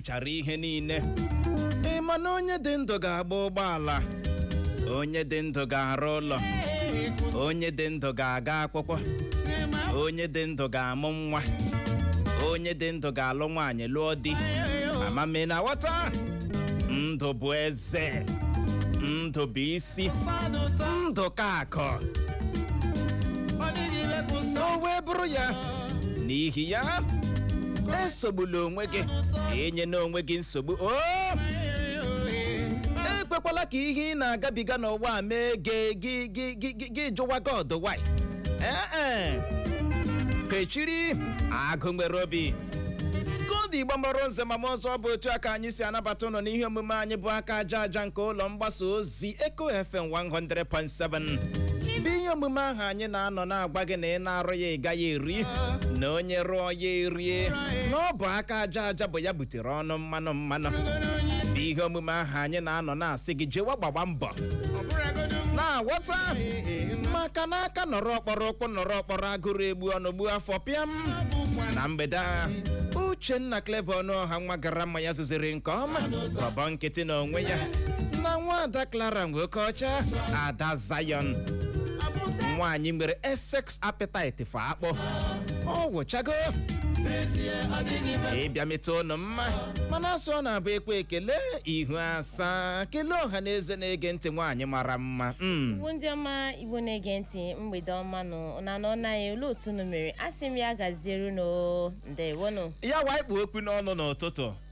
chara ihe niile ị ma na onye dị ndụ ga-agba ụgbọala onye dị ndụ ga-arụ ụlọ onye dị ndụ ga-aga akwụkwọ onye dị ndụ ga-amụ nwa onye dị ndụ ga-alụ nwaanyị lụọ di ama m ma ị na-aghọta ndụ bụ eze ndụ bụ isi ndụ ka akụ o wee bụrụ ya n'ihi ya esogbula onwe gị enyena onwe gị nsogbu o ekwekwala ka ihe ị na-agabiga n'ụwa a mee gị gị gị gị gị gị jụwa god why ee e kechiri agụ nwere obi kodi igbo mụrụ nze ma mụọ ọzọ ọ bụ otu a ka anyị si anabata ụnụ n'ihe omume anyị bụ aka aja aja nke ụlọ mgbasa ozi si Eco FM 100.7 bụ ihe omume ahụ anyị na-anọ na-agwa gị na ị na-arụ ya ị gaghị eri na onye rụọ ya erie na ọ bụ aka aja aja bụ ya butere ọnụ mmanụ mmanụ bụ ihe omume ahụ anyị na-anọ na-asị gị jewa gbawa mbọ na-aghọta maka na aka nọrọ ọkpọrọ ụkwụ nọrọ ọkpọrọ agụrụ egbu ọnụ gbuo afọ pịam na mgbede a uchenna clever ọnụọha nwa gara mma ya zụziri nke ọma ọbọ nkịtị na onwe ya na nwada clara nwokeọcha ada zion nwaanyị nwere excess appetite for akpụ ọ wụchago ịbịa metụ ụnụ mma mana a sị ọ na-abụ ekwe ekele ihu asaa kelee ọha na eze na-ege ntị nwaanyị mara mma mm. igbo ndị ọma igbo na-ege ntị mgbede ọma nụ na nọ naghị olee otu unu mere asị m ya gaziere unu ndewonụ ya wa ị kpụ ọkụ n'ọnụ n'ụtụtụ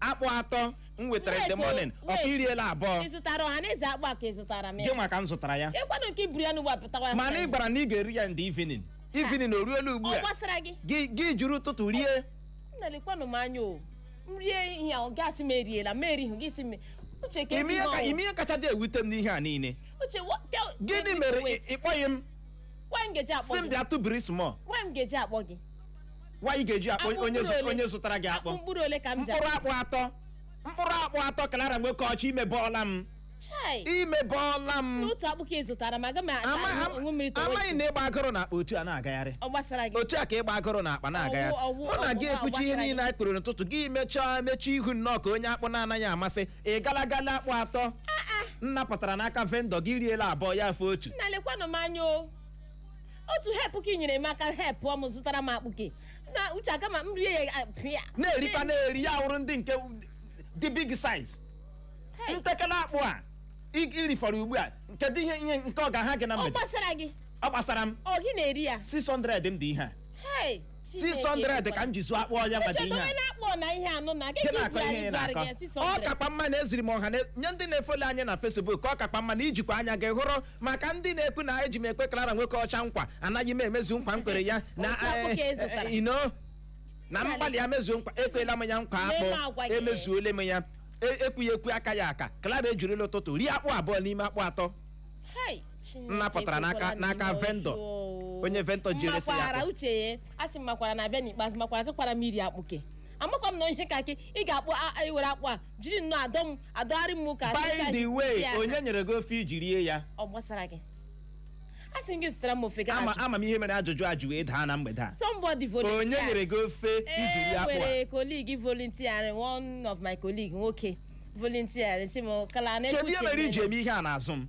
akpụ atọ m wetara in the Wait, morning wait. ọka iriela abụọ ị zụtara ọha na eze akpụ a ka ị zụtara m gị ya nwa ka m zụtara ya ịkwanụ nke iburu ya n'ugbo apụtawa ya mana ị gwara m na ị ga-eri ya in the evening evening o ruola ugbu ọ a gbasara gị gị gị jiri ụtụtụ rie nna lekwanụ m anya o m rie ihe ahụ gasị m eriela m erighị gị si m uche ka ime ihe ka- ime ihe kacha dị ewute m n'ihe a niile uche wo- tell- gịnị mere wait, ị- ị kpọghị m nwa m geji akpọ si m gị bịa tụbiri small nwa m geji akpọ gị why ị ga-eji akpọ Akpụ onye mkpụrụ zụ- ole? onye zụtara gị akpụ mkpụrụ ole ka m ji mkpụrụ akpụ atọ mkpụrụ akpụ atọ clara nwokeọcha imebọọla m chai imebọọla m n'otu akpụ ka ị zụtara ma aga m Ama- ata ama- nwe mmiri tọwa amaghị na ịgba agụrụ n'akpa otu a na-agagharị ọ gbasara gị otu a ka ịgba agụrụ n'akpa na-agagharị Ọwụ- ọwụ- mụ na gị ọwụ ekwuchi ihe agbasara niile anyị kpụrụ n'ụtụtụ gị mechaa mechie ihu nnọọ ka onye akpụ na-anaghị amasị ị gala gala akpụ atọ m napụtara n'aka vendor gị riela abụọ ya afọ otu nna lekwanụ m anya o otu help ka ị nyere m aka help m zụtara m akpụ ke na uche aka ma m rie ya ah, pịa na-erikwa na-eri ya họrọ ndị nke dị big size Hey, ntekere akpụ a i- irifọrọ ugbu a kedu ihe ihe nke ọ ga-aha gị na ọ mgbede gbasara gị ọ gbasara m ọ gị na-eri ya 600 m dị ihe a hey 600 ka m ji zụọ akpụ ọnwa maka ihe a na-akpọ na ihe anụ na gị gị na-akọ ihe ị na-akọ ọ kakwa mma na eziri m ọha na- nye ndị na-efolo anyị na Facebook ka ọ kakwa mma na i jikwa anya gị hụrụ maka ndị na-ekwu na eji m ekwe Clara Nwokeọcha nkwa anaghị m emezu nkwa m kwere ya na Otu akpụ ka ị zụtara. eh, eh, you know na m gbalịa mezuo nkwa ekwela m ya nkwa Mee m agwa akpụ gị. emezuole m ya E- ekwughị ekwu akaghị aka Clara ejirila ụtụtụ rie akpụ abụọ n'ime akpụ atọ Hey. Chineke M napụtara n'aka- ekwela na n'aka ihe vendor. ọjọọ o. Onye vendor ji eresi ya M makwara akpụ. uche ya asị m makwara na-abịa n'ikpeazụ makwara tụkwara m iri akpụke amakwa m na ihe ka akị ị ga-akpụ a- a- i were akpụ a jiri nnọọ adọ m adọgharị m ka by the way ya. onye nyere gị ofe i ji rie ya ọ gbasara gị asị m gị zụtara m ofe gị ama ama m ihe mere ajụjụ a ji wee daa na mgbede a somebody volunteer onye nyere gị ofe i ji rie e akpụ a nwere colleague volunteer one of my colleague nwoke volunteer sị m Clara na kedu ihe mere i ji eme ihe a n'azụ m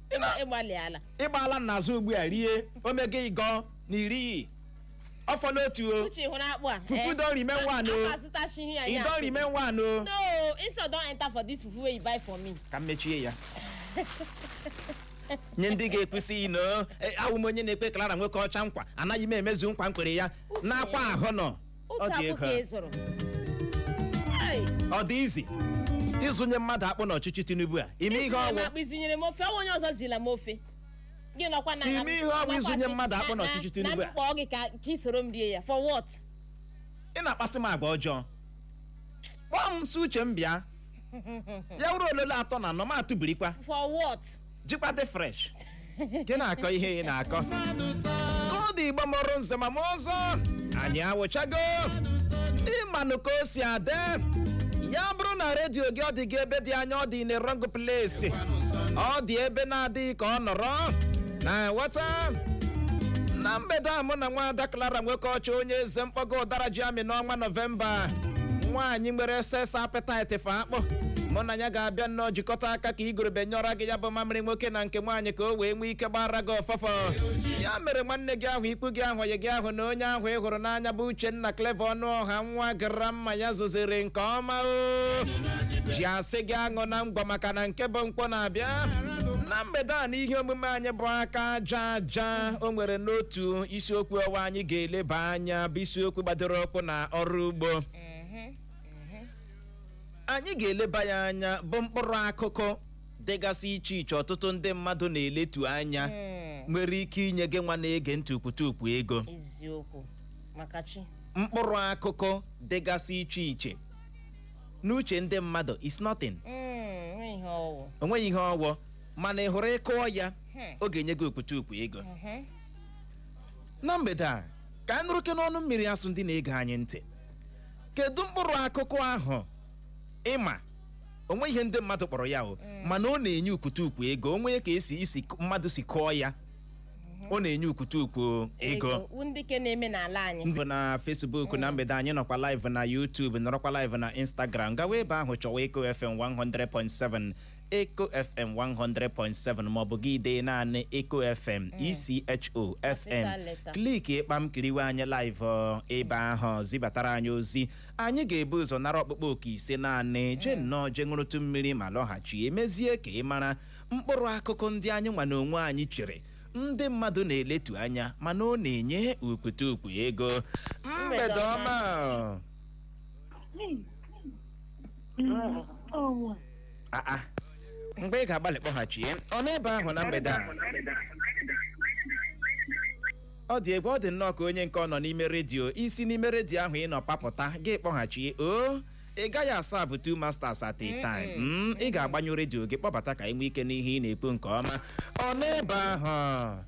Ị na- ịgbalịala ị gbaala m n'azụ ugbu a rie omega ịgọ na iri iyi ọ fọla otu o uche hụrụ akpụ a Fufu eh? don remain one o. Akpa azụtachighị ya ị ya. don remain one o no insult don enter for this fufu wey you buy for me ka m mechie ya nye ndị ga-ekwu sị you know awụ m onye na-ekwe Clara Nwokeọcha nkwa anaghị m emezu nkwa m kwere ya n'akwa ahụ nọ otu dị akpụ ego ka a. ị zụrụ Ai, ọ dị easy ịzụnye mmadụ akpụ n'ọchịchị Tinubu a ị ma ihe ị zụnyere m ọ wụ akpụ ị zụnyere m ofe ọnwa onye ọzọ zụọla m ofe gị nọkwa na Ị ma ihe ọ wụ ịzụnye mmadụ akpụ n'ọchịchị Tinubu a. na m kpọọ gị ka ka ị soro m rie ya for what ị na-akpasị m agwa ọjọọ kpọọ m sị Uche m bịa ya wuru ololo atọ na anọ m atụbirikwa for what jikwa dị fresh gị na-akọ ihe ị na-akọ ka ọ dị Igbo mụrụ nze ma mụọ ọzọ anyị awụchago ị manụ ka o si adị ya bụrụ na redio gị ọ dị gị ebe dị anya ọ dị in a wrong place ọ dị ebe na-adịghị ka ọ nọrọ na ghọta na mgbede a mụ na nwaada Clara Nwokeọcha onye eze mkpọgo ụdara ji amị n'ọnwa nọvemba nwaanyị nwere excess appetite for akpụ mụ na ya ga-abịa nnọọ jikọta aka ka igurube nyụọrọ gị ya bụ mamịrị nwoke na nke nwaanyị ka o wee nwee ike gbaara gị ụfụfụ ya mere nwanne gị ahụ ikwu gị ahụ ọyị gị ahụ na onye ahụ ị hụrụ n'anya bụ Uchenna Clever Ọnụọha nwa gara mma ya zụziri nke ọma o ji asị gị aṅụna ngwọ maka na nke bụ nkwụ na-abịa na mgbede a na ihe omume anyị bụ aka aja aja o nwere n'otu isiokwu ọwa anyị ga-eleba anya bụ isiokwu gbadoro ụkwụ na ọrụ ugbo anyị ga-eleba ya anya bụ mkpụrụ akụkụ dịgasị iche iche ọtụtụ ndị mmadụ na-eletu anya nwere ike inye gị nwa na-ege ntị okputukpu ego eziokwu maka chi mkpụrụ akụkụ dịgasị iche iche n'uche ndị mmadụ is nothing Mm, nwee ihe ọ wụ o nweghị ihe ọ wụ mana ị hụrụ ị kụọ ya Hmm. ọ ga-enye gị okputukpu ego Mhm. na mgbede a ka anyị nụrụ ke n'ọnụ mmiri asụ ndị na-ege anyị ntị kedu mkpụrụ akụkụ ahụ ị ma o nweghị ihe ndị mmadụ kpọrọ ya o mana ọ na-enye okputukpu ego o nwee ka e si isi mmadụ si kụọ ya ọ na-enye okputukpu ego Wu ndị ke na-eme n'ala anyị ndị na Facebook na mgbede a anyị nọkwa live na YouTube nọrọkwa live na Instagram gawa ebe ahụ chọwa Echo FM 100.7 Echo FM 100.7 maọbụ gị dee naanị Echo FM ECHO FM letter. click kpam kiriwe anyị live ọ, ebe ahụ zibatara anyị ozi anyị ga-ebu ụzọ nara ọkpụkpọ oku ise naanị jee nnọọ jee ṅụrụtụ mmiri ma lọghachi e mezie ka ị mara mkpụrụ akụkụ ndị anyị nwa na onwe anyị chere ndị mmadụ na-eletu anya mana ọ na-enye okputukpu ego mgbede ọma Ah, ah. mgbe ị ga-agbalị kpọghachi ya ọ n'ebe ahụ na mgbede a ọ dị egwu ọ dị nnọọ ka onye nke a nọ n'ime redio i si n'ime redio ahụ ị nọ papụta gị kpọghachie o ị gaghị a-serve two masters at a time Mm, ị ga-agbanyụ redio gị kpọbata ka e nwee ike nụ ihe ị na-ekwu nke ọma ọ n'ebe ahụ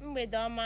mgbede ọma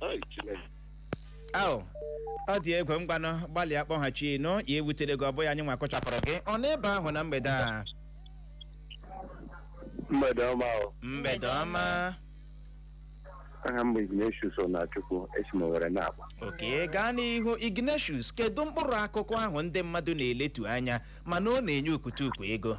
Ai, Chineke. Au, ọ dị egwu ngwanụ gbalịa kpọghachinụ ya ewutele gị ọ bụghị anyị nwa kụchapụrụ gị ọ n'ebe ahụ na mgbede a mgbede ọma o mgbede ọma aha m bụ Ignatius Onachukwu esi m Owere na-akpọ okay gaa n'ihu Ignatius kedu mkpụrụ akụkụ ahụ ndị mmadụ na-eletu anya mana ọ na-enye okputukpu ego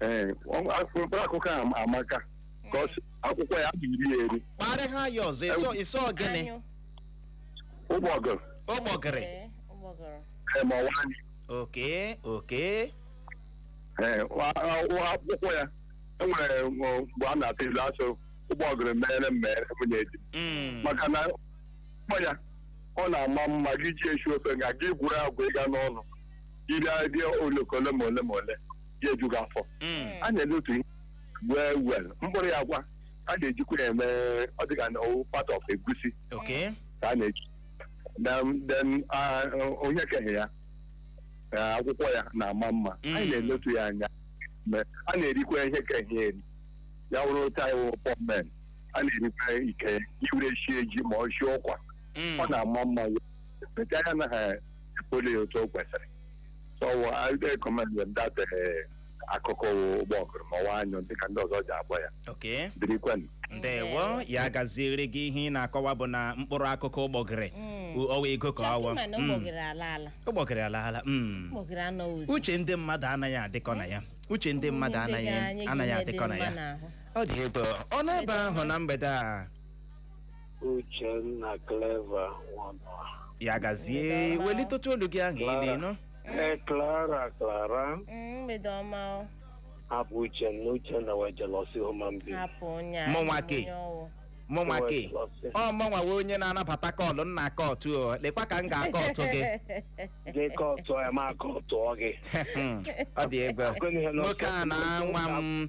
ee ọ- a- mkpụrụ akụkụ a ama- amaka because akwụkwọ ya bụ iri eri kpọrọ aha ya ọzọ ị sị ọ ị sị ọ gịnị Anyụ. ụgbọgụ ụgbọgịrị Ee, ụgbọgụrụ. ee, ma ọ wụ anyụ okay okay ee wa- a- wa- akwụkwọ ya enwere m, ọ, mgbe a na-atụ ilu a sị ụgbọgụrụ mere m mere nwunye di m. Mm. maka na ụgbọ ya ọ na-ama mma gị ji esi ofe nga gị gwuru agwa ịga n'ọnụ iri adị oloko ole ma ole ma ole ya ejughị afọ Mm. a na-ele otu ihe wee wel mkpụrụ ya kwa a na-ejikwa ya eme ọ dịka na owu part of egusi Okay. ka a na-eji Then- then ah, onye keghị ya ah, akwụkwọ ya na-ama mma Mm. anyị na-eletu ya anya Ma a na-erikwa ihe keghị ya eri ya wụrụ otu anyị wụ pọmen a na-erikwa ike i were shie ji ma ọ shi ụkwa Mm. ọ na-ama mma ya bete anya na ha poli otu o kwesịrị so I recommend them that eh, akwụkwọ ụgbọgụrụ ma ọ wụ anyụ dịka ndị ọzọ ji akpọ ya okay birikwenụ ndewo ya gaziere gị ihe ị na-akọwa bụ na mkpụrụ akụkụ ụgbọgịrị ọwa ego ka ọwa chọkụma na Mm. ụgbọgịrị ala ala ụgbọgịrị alaala mm. ụgbọgịrị anọ ụzọ uche ndị mmadụ anaghị adịkọ na ya uche ndị mmadụ Ndị anaghị be anyị anaghị ga-enye dị adịkọ na mma ya n'ahụ. ọ dị ebe ọ n'ebe ahụ na mgbede a Uchenna Clever Nwanwa. ya gazie welitetụ olu gị aha ị na-enụ Ee, Clara Clara Mm, mgbede ọma ọ abụ Uchenna Uchenna wụ jealousy human being. hapụ onye a Mụnwa onye ke. ọwụ. mụnwa Wee ke jealousy. ọ mụnwa wụ onye na-anabata call nna kọtụ o lekwa ka m ga-akọtụ gị Gị kọtụọ ya ma kọtụọ gị. Hmm, ọ dị egwu Gịnị ihe nọ nwoke a na nwa m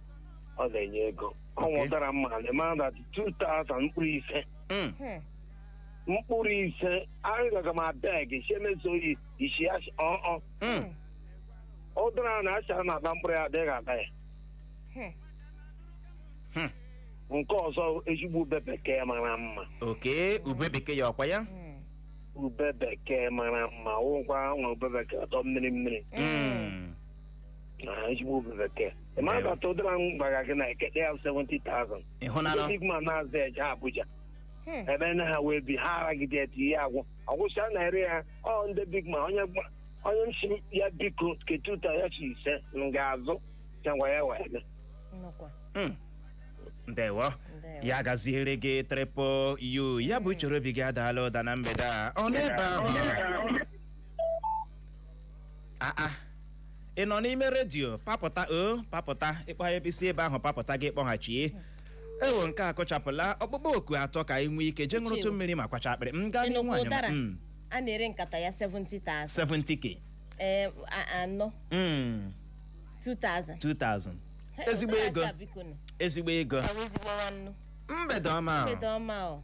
ọ na-enye ego ọ Okay. wụ ụdara mma na ma na 2000 mkpụrụ ise Mm. Hmm. mkpụrụ ise agaga m abeg si emeso oyi isi ya si- ọ ọ Mm. ụdara na asị a na-ata mkpụrụ ya adịghị ata ya Hmm. Hmm. nke ọzọ ezigbo ube bekee mara mma oke ube bekee ya ọkwa ya Hmm. ube bekee mara mma wụkwa nwa ube bekee ọtọ mmiri mmiri Mm. na ezigbo ube bekee ị ma Ndewo. bata ụdara m gwara gị na ekete ya 70,000 ịhụnanụ big man na-azụ eje Abuja Hmm. ebe na ha wee bi ha aragide etu ihe agwụ ọgwụcha na-ere ya ọ ndị big man onye gba- onye m si ya biko ketuta ya si ise m ga-azụ changwa ya wee bịa. Nnukwu. Mm. ndewo Ndewo. ya gaziere gị triple u ya bụ uche obi gị adaala ụda na mgbede a ọ n'ebe ahụ aa ị nọ n'ime redio papụta o papụta ịkpọ ya i si ebe ahụ papụta gị kpọghachi ewo nke a akụchapụla ọkpụkpọ oku atọ ka anyị nwee ike jee ṅụrụtụ Chiwo. mmiri ma kwacha akpịrị m gaa n'ihu Enugwu anyị ụdara mm, a na-ere nkata ya 70,000 70k ee a- anọ mm, 2,000 2000 Hey, ezigbo ụdara ego aja biko nụ. ezigbo ego Ọ bụ ezigbo nwannu. mgbede ọma Mgbede ọma o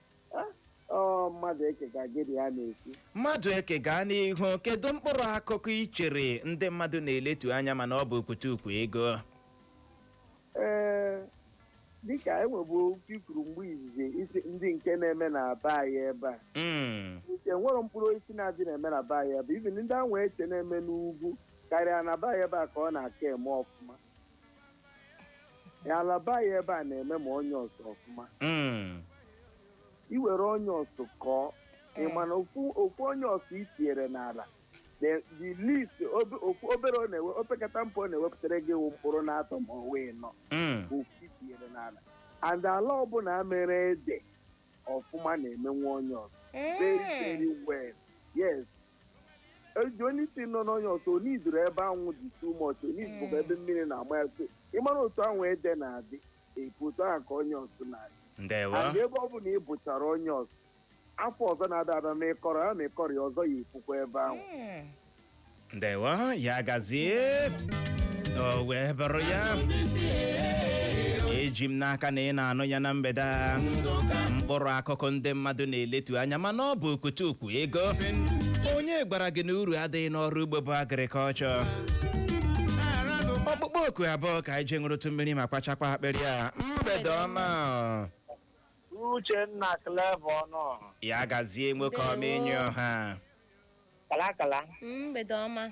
ọ Mmadụeke ka gị na ya na-ekwu Mmadụeke gaa n'ihu kedu mkpụrụ akụkụ i chere ndị mmadụ na-eletu anya mana ọ bụ okpotokpo ego ee dịka enwebu okwu i kwuru mgbe izizi ị sị ndị nke na-eme na be anyị ebe a Mm, uche nwere mkpụrụ osisi na-adị na-eme na be anyị ebe a. even ndị anwa eche na-eme n'ugwu karịa na be anyị ebe a ka ọ na-aka eme ọfụma ala be anyị ebe a na-eme ma onions ọfụma Mm. i were onions kọọ ị Eh. ma na ofu ofu onions i tinyere n'ala the the least obe- okwu obere ọ na-ewe opekata mpe ọ na-ewepụtara gị wụ mkpụrụ na atọ ma ọ wụ anọ Mm. bụ ofu i tinyere n'ala and ala ọbụla mere ede ọfụma na-emenwe onions very Eh. very well yes the only thing nọ n'onions o needirọ ebe anwụ dị too much o needirọkwa ebe mmiri na-agba ya so ịmara otu ahụ ede na-adị epu otu ahụ ka onions na-adị ndewo and ebe ọbụla ị bụchara onions afọ ọzọ na-abịa abịa ma ị kọrọ ya ma ị kọrọ ya ọzọ ya epukwa ebe ahụ Mm. ndewo ya gazie o wee bụrụ ya eji m n'aka na ị na-anụ ya na mgbede a mkpụrụ akụkụ ndị mmadụ na-eletu anya mana ọ bụ okpoto kpo ego onye gwara gị na uru adịghị n'ọrụ ugbo bụ agrikọlchọ ọkpụkpọ oku abụọ ka anyị jee ṅụrụtụ mmiri ma kpachakwa akpịrị a mgbede ọma Uchenna Clever ọnụ ya gazie nwoke ọma enyi ọha kalakala mgbede ọma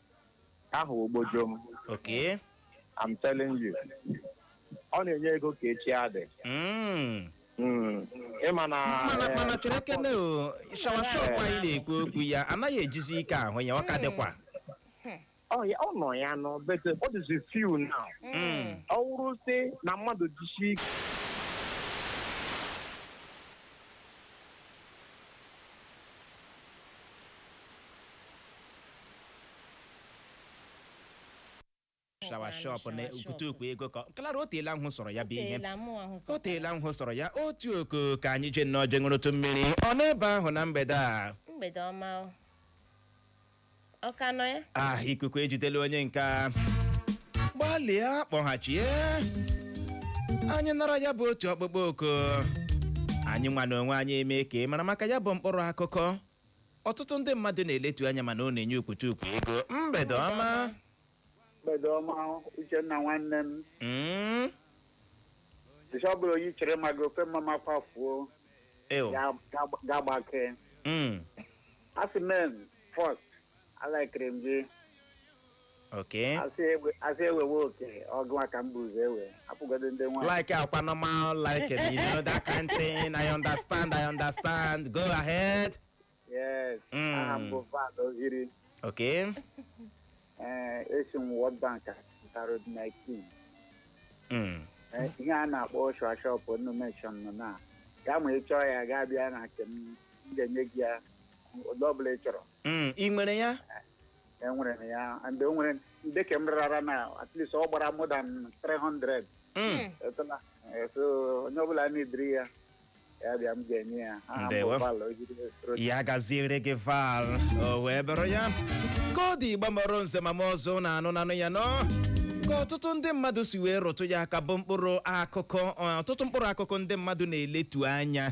ahụ ogbojo m Okay. I'm telling you ọ na-enye ego ka echi adị Mm. Mm. ịma na mana eh, mana cherekene ọ shawa shop anyị na-ekwu okwu ya anaghị ejizi ike ahụ ya ọ ka dịkwa ọ ya- ọ nọ ya nọ but ọ dịzi few now Mm. ọ wụrụ sị na mmadụ jisi ike shawa shop na okpotokpo ego ka klara o teela m hụsọrọ ya bụ ihe o teela m hụsọrọ ya otu oku ka anyị je nnọọ je ṅụrụtụ mmiri ọ n'ebe ahụ na mgbede a mgbede ọma o. ọ ka nọ ya ah ikuku ejidela onye nke a gbalịa kpọghachie anyị nara ya bụ otu ọkpụkpọ oku anyị nwa na onwe anyị eme ka ị mara maka ya bụ mkpụrụ akụkụ ọtụtụ ndị mmadụ na-eletu anya mana ọ na-enye okpotokpo ego mgbede ọma mgbede ọma Uchenna nwanne m Mm, ọ bụla onye chere ma gị ofe mma makwafuo ew, ga-agbake mm. asị men first alakiri m gị okay asị ewe- asị ewewe oke ọgụ aka mba ụzọ ewe apụgodo ndị nwaanyị like akwa normal like you know that kind thing i understand i understand go ahead yes Mm. aha m bụ Val ohiri okay ee esi m World Bank Road 19 mm. Ee, ihe a na-akpọ shawa shop unu mention nọ na nga ma ị chọọ ya gaa bịa na nke m m ga-enye gị ya ụdị ọbụla ị chọrọ Mm. ị nwere ya enwere m ya and o nwere ndị ka m rara na at least ọ gbara more than 300 Mm. etụla Eh, so onye ọbụla needịrị ya ya bịa m ga-enye ya aha m Ndewo. bụ Val Ojide Rochas. ya gaziere gị val o wee bụrụ ya ka ọ dị Igbo mụrụ nze ma mụọ ọzọ na anụ nanụ ya nnọọ ka ọtụtụ ndị mmadụ si wee rụtụ ya aka bụ mkpụrụ akụkụ ọ, ọtụtụ mkpụrụ akụkụ ndị mmadụ na-eletu anya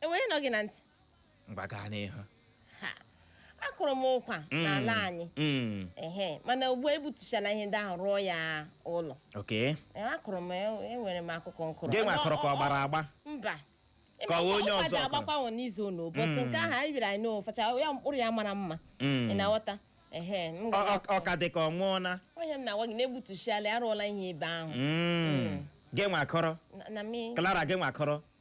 enwere nọ gị na ntị ngwa gaa n'ihu ha akụrụ m ụkwa Mm, n'ala anyị mm, ehe mana ugbu a egbutuchala ihe ndị ahụ rụọ ya ụlọ okay Ee, akụrụ m e- enwere m akụkụ m kụrụ gị nwa Ọ- kụrụ ka ọ- ọ gbara agba mba Ka ọ wụ onye ọzọ ụfaja kụrụ. agbakwanwụ n'azụ ụlọ ụbọchị nke ahụ anyị biri anyị na-aracha ya mkpụrụ ya mara mma Mm. ị na-aghọta ehe m Ọ- ga- ọ- ọ ka dị ka ọ nwụọna ọ ihe m na-agwa gị na egbutuchiala ya arụọla ihe ebe ahụ Mm. gị nwa kụrụ na- na mi Clara gị nwa kụrụ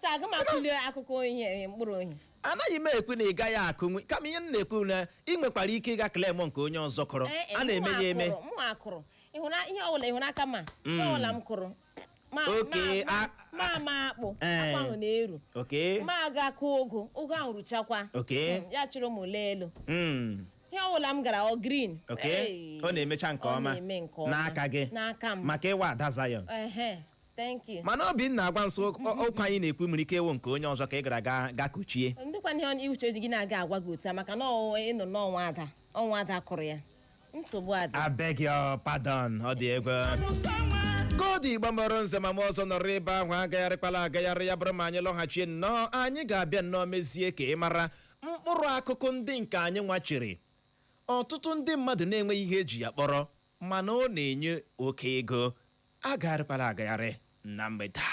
so aga m akụli akụkụ ohi eh, mkpụrụ ohi anaghị m ekwu na ị gaghị akụnwu kama ihe m na-ekwu na ị nwekwara ike ịga claim nke onye ọzọ kụrụ Eh, eh, a na-eme mụ ya eme akụrụ, mụ akụrụ ịhụna ihe ọbụla ịhụna aka m a ihe ọbụla m kụrụ ma Okay, ma- a- ma ma akpụ Eh. akpụ ahụ na-eru oke ma aga kụ ụgụ ụgụ ahụ ruchakwa Okay. Mm, ya chụrụ m ule elu Mm. ihe ọbụla m gara ọ green okay Hey. ọ na-emecha nke Ọ ọma na-eme nke ọma. n'aka gị n'aka m maka ị wụ ada Zion Ehe. thank you mana Obinna agwa m sị ụkwa anyị na-ekwu nwere ike ịwụ nke onye ọzọ ka ị gara ga ga kụchie ndịkwa ihe ọ- uche ọjọọ gị na-aga agwa gị otu a maka na ọwụwa ịnọ n'ọnwa ada ọ nwa ada kụrụ ya nsogbu adịghị I beg your pardon ọ dị egwu ka ọ dị Igbo mụrụ nze ma mụọ ọzọ nọrọ ebe ahụ agagharịkwala agagharị ya bụrụ ma anyị lọghachie nnọọ anyị ga-abịa nnọọ mezie ka ị mara mkpụrụ akụkụ ndị nke anyị nwa chere ọtụtụ ndị mmadụ na-enweghị ihe eji ya kpọrọ mana ọ na-enye oke ego agagharịkwala agagharị na mgbede a.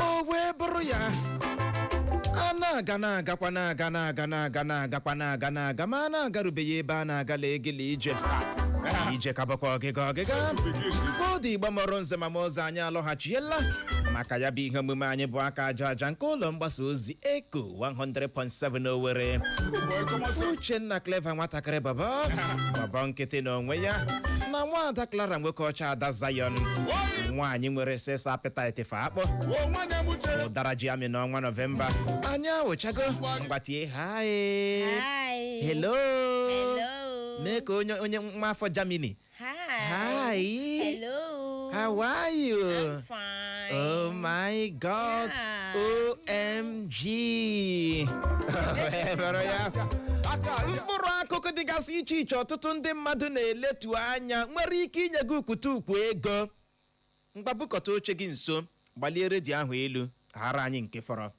o wee bụrụ ya a na-aga na-agakwa na-aga na-aga na-aga na-agakwa na-aga na-aga ma a na-agarubeghị ebe a na-agala egele ije ije ka bụkwa ọgịga ọgịga fọdụ Igbo mụrụ nze ma mụọ ọzọ anyị alọghachiela maka ya bụ ihe omume anyị bụ aka aja aja nke ụlọ mgbasa ozi eko 100.7 Owerri Uchenna Clever nwatakịrị bọbọ bọbọ nkịtị n'onwe ya na nwaada Clara Nwokeọcha ada Zion nwaanyị nwere sex appetite fa akpọ ụdara ji amị n'ọnwa nọvemba anyị awụchago ngwa tie hi Hi. hello Hello. mee ka onye onye nwa afọ Germany Hi. Hi. Hello. How are you? I'm fine. Oh my God. Yeah. OMG. Ebere ya. Mkpụrụ akụkụ dịgasị iche iche ọtụtụ ndị mmadụ na-eletu anya nwere ike inye gị ukwutukwu ego. Ngwa bukọta oche gị nso, gbalie redio ahụ elu, ghara anyị nke fọrọ.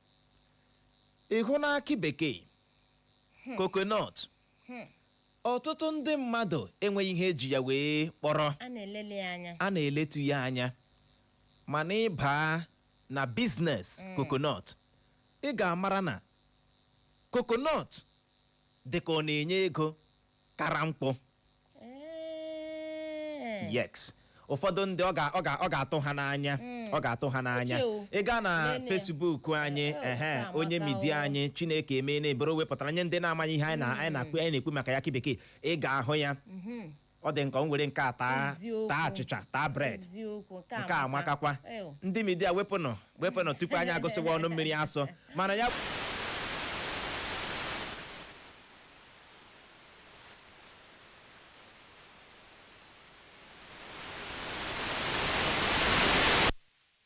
Ị hụna akị bekee, coconut, ọtụtụ ndị mmadụ enweghị ihe eji ya wee kpọrọ a na-eletu ya anya mana ị baa na business coconut ị ga-amara na coconut dị ka ọ na-enye ego kara nkwụ Ee. yes ụfọdụ ndị ọ ga- ọ ga- ọ ga-atụ ha n'anya ọ ga-atụ ha n'anya Uche o. ị gaa na Nene ya. Facebook anyị Eh, eh, ehe na-amata onye media o. anyị chineke emee na ebere wepụtara nye ndị na-amaghị ihe anyị na- anyị na-ekwu anyị na-ekwu maka ya akị bekee ị ga-ahụ ya ọ dị nke o nwere nke a taa Eziokwu. taa achịcha taa bread eziokwu nke nke a amakakwa Ew. ndị media wepụnụ wepụnụ tupu anyị agụsịwa ọnụ mmiri asọ mana ya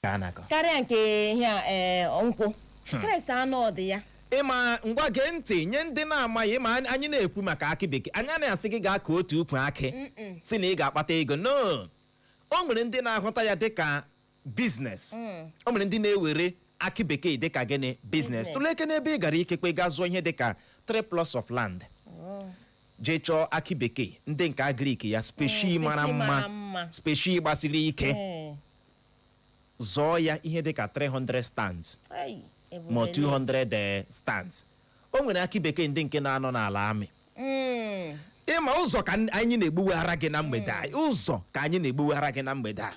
ka a na-akọ karịa nke ihe a ee nkwụ Christ anụ ụdị ya ị ma ngwa gee ntị nye ndị na-amaghị ma anyị na-ekwu maka akị bekee anyị anaghị asị gị gaa kọọ otu ukwu akị sị na ị ga-akpata ego no o nwere ndị na-ahụta ya dịka business mm. o nwere ndị na-ewere akị bekee dịka gịnị business tụleke n'ebe ị gara ikekwe gaa zụọ ihe dịka three plots of land oh. jee chọọ akị bekee ndị nke agric ya specie mm, mara mma specie gbasiri ike eh. zọọ ya ihe dịka 300 stands ma 200 eh, stands o nwere akị bekee ndị nke na-anọ n'ala amị mm. ị ma ụzọ ka anyị na-egbuweghara gị na mgbede a mm. ụzọ ka anyị na-egbuweghara gị na mgbede a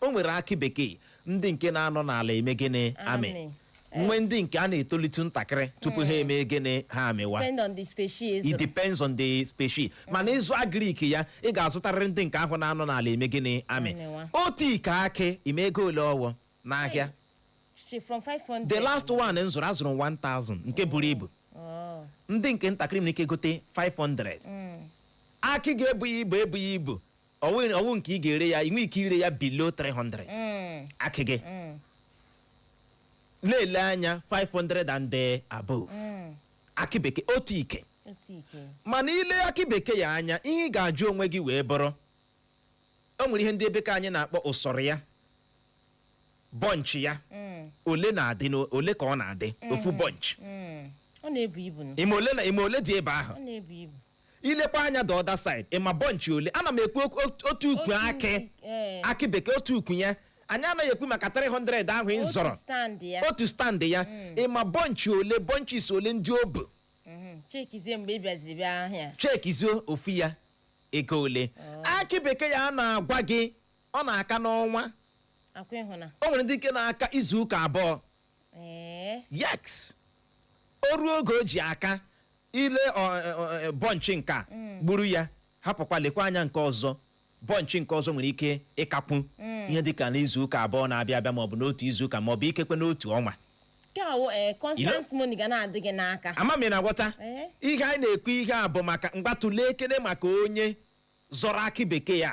o nwere akị bekee ndị nke na-anọ n'ala eme gịnị amị Amị. nwe ndị nke a na-etolite ntakịrị tupu ha emee gịnị ha amịwa depend on the species it depends on the species mana ịzụ agrik ya ị ga-azụtarịrị ndị nke ahụ na-anọ n'ala eme gịnị amị Amịwa. otu ike akị ịma ego ole ọwụ n'ahịa Shi from 500 the last one m zụrụ azụrụ 1000 nke buru ibu Oh. ndị nke ntakịrị nwere ike gote 500 akị ga-ebughị ibu ebughị ibu ọwụ ọwụ nke ị ga-ere ya ị nwee ike ire ya below 300 Mm, akị gị mm, na-ele anya 500 and the above mm. akị bekee otu ike Otu ike. mana ile akị bekee ya anya ihe ị ga-ajụ onwe gị wee bụrụ o nwere ihe ndị ebe ke anyị na-akpọ ụsọrọ ya bọnchị ya Mm, ole na-adị na ole ka ọ na-adị ofu bọnchị mm. Ọ na-ebu ibu nụ. ịma ole na ịma ole dị ebe ahụ Ọ na-ebu ibu. ilekwa anya the other side ịma bọnchị ole ana m ekwu okwu- ot- otu ukwu Otu akị ukwu, eh. akị bekee otu ukwu ya anyị anaghị ekwu maka 300 ahụ ị Otu zọrọ stand ya. otu stand ya ịma bọnchị ole bọnchis ole ndị o bu Mhm. chekizie mgbe ị bịaziri bịa ahịa chekizie ofu ya ego ole akị bekee ya a na-agwa gị ọ na-aka n'ọnwa akwa ịhụna o nwere ndị nke na-aka izu ụka abụọ ee yes o ruo oge o ji aka ile bọnchị nke a mm. gburu ya hapụkwa lekwa anya nke ọzọ bọnchị nke ọzọ nwere ike ịkakwu mm. ihe dịka n'izuụka abụọ na-abịa abịa maọbụ n'otu izuụka maọbụ ikekwe n'otu ọnwa eh, ama m ị na-aghọta eh? ihe anyị na-ekwu ihe a bụ maka mgbatụle ekele maka onye zọrọ akị bekee ya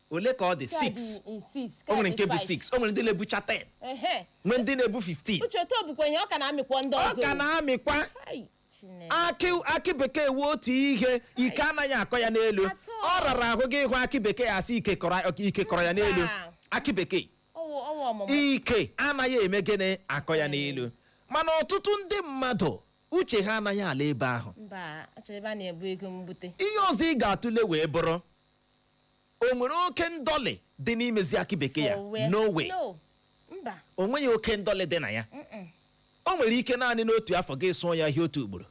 ole ka ọ dị 6 o nwere nke bụ 6 o nwere ndị na-ebucha 10 nwee ndị na-ebu 15 uche otu o bukwa ihe ọ ka na-amịkwa ndị ọzọ ọ ka na-amịkwa akị bekee wụ otu ihe ike anaghị akọ ya n'elu ọ rara ahụ gị ịhụ akị bekee asị ike kọrọ ya n'elu akị bekee ike anaghị eme gịnị akọ ya n'elu mana ọtụtụ ndị mmadụ uche ha anaghị ala ebe ahụ ihe ọzọ ị ga-atụle wee bụrụ o nwere oke ndọlị dị n'imezi akị bekee ya For where? no way No. Mba. o nweghị oke ndọlị dị na ya Mm-mm. o nwere ike naanị n'otu afọ gị sụọ ya ahịhịa otu ugboro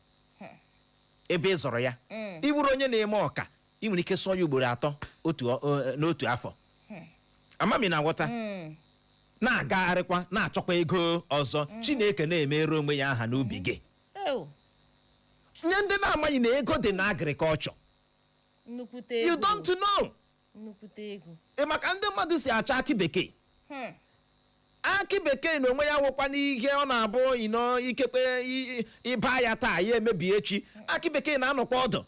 ebe ị zọrọ ya Mm. ị bụrụ onye na-eme ọka ị nwere ike sụọ ya ugboro atọ otu ọ- ọ- n'otu afọ ama m ị na-aghọta Mm. na-agagharịkwa na-achọkwa ego ọzọ chineke na-emere onwe ya aha n'ubi gị Oh. nye ndị na-amaghị na ego dị na agrikọlchọ nnukwute you egwu don't know nnukwute egwu ị ma ka ndị mmadụ si achọ akị bekee Hmm. akị bekee na onwe ya nwekwa n'ihe ọ na-abụ you know ikekwe i- i- ị baa ya taa ya emebi echi akị bekee na-anọkwa ọdụ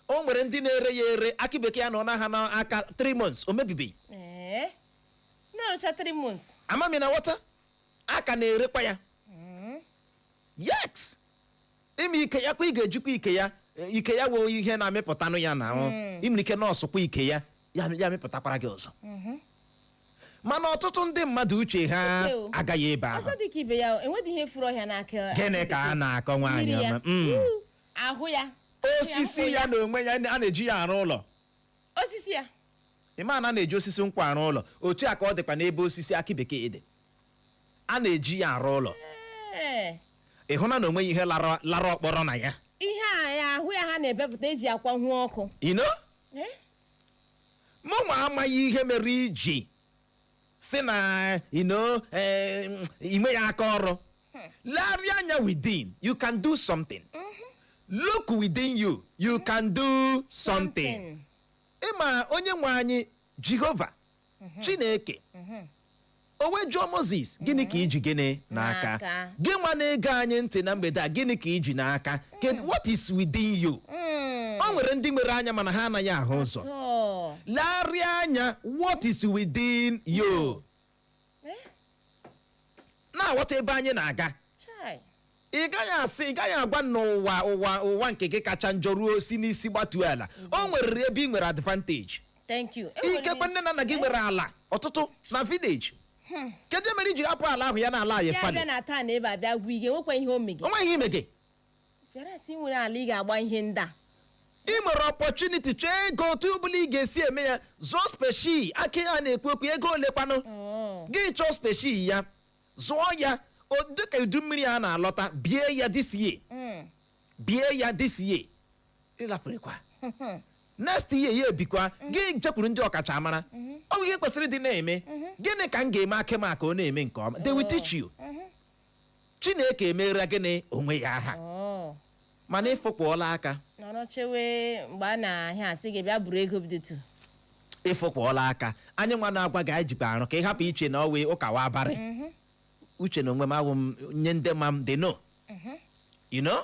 o nwere ndị na-ere ya ere akị bekee ya anọọna ha n'aka 3 months o mebibeghị ee na-arụcha 3 months amami na wọta a ka na-erekwa ya yes ị ma ike ya kwa ị ga-ejikwa ike ya e, ike ya wee ihe na-amịpụtanụ ya na ahụ ị nwere ike nọọsụkwa ike ya ya ya amịpụtakwara gị ọzọ mana ọtụtụ ndị mmadụ uche ha Uche o. agaghị ebe ahụ ọzọ dịka ibe ya o nweghị ihe furu ọhịa n'akị gịnị ka a na-akọ nwaanyị mmiri ya ọma Mm. Uu, ahụ ya osisi ya na onwe ya a na-eji ya arụ ụlọ osisi ya ị ma na a na-eji osisi nkwụ arụ ụlọ otu a ka ọ dịkwa n'ebe osisi akị bekee dị a na-eji ya arụ ụlọ Ee, ị hụna na o nweghị ihe lara lara ọkpọrọ na ya ihe a ya ahụ ya ha na-ebepụta e ji akwanwu ọkụ you know Eh? mụnwa amaghị ihe mere i ji sị na you know i nweghị aka ọrụ Legharịa anya within, you can do something. Look within you, you can do something. Ị ma onye nwe anyị Jehova Chineke o wee jụọ Mozis gịnị ka i ji gịnị n'aka N'aka. gị nwa na-ege anyị ntị na mgbede a gịnị ka i ji n'aka Kedu- what is within you o nwere ndị nwere anya mana ha anaghị ahụ ụzọ So, legharịa anya what is within you na-aghọta ebe anyị na-aga Chai. ị gaghị asị ị gaghị agwa m na ụwa ụwa ụwa nke gị kacha njọ ruo si n'isi gbatuo ala o nwererị ebe ị nwere advantage Thank you. E nwere ikekwe m- nne na nna gị nwere ala ọtụtụ na village kedu ihe mere i ji hapụ ala ahụ ya na-a lie fallow bịa na town ebe a bịa gwa ige nwekwa ihe o mege o nweghị ihe ị mege Whereas ị nwere ala ị ga-agba ihe ndị a ị nwere opportunity chọọ ego otu ọbụla ị ga-esi eme ya zụọ specie akị a na-ekwu okwu ego ole kwanụ Oh. gị chọọ specie ya zụọ ya o- dịka udu mmiri a na-alọta bie ya this year Mm. bie ya this year ị laferekwa next year ya ebikwa gị jekwuru ndị ọkachamara ọ bụ ihe kwesịrị ịdị na-eme gịnị ka m ga-eme akị m a ka ọ na-eme nke ọma they will teach you chineke emeere gị n'onwe ya aha Oh. mana ị fụkpọọla aka nọrọ chewe mgbe a na-abịa asị gị bịa buru ego bidotu ị fụkpọọla aka anyị nwa na-agwa gị anyị jikwa arụ ka ị hapụ iche na ọ wụ ụka wa abarị uche na onwe m awụ m onye ndị ma m they know you know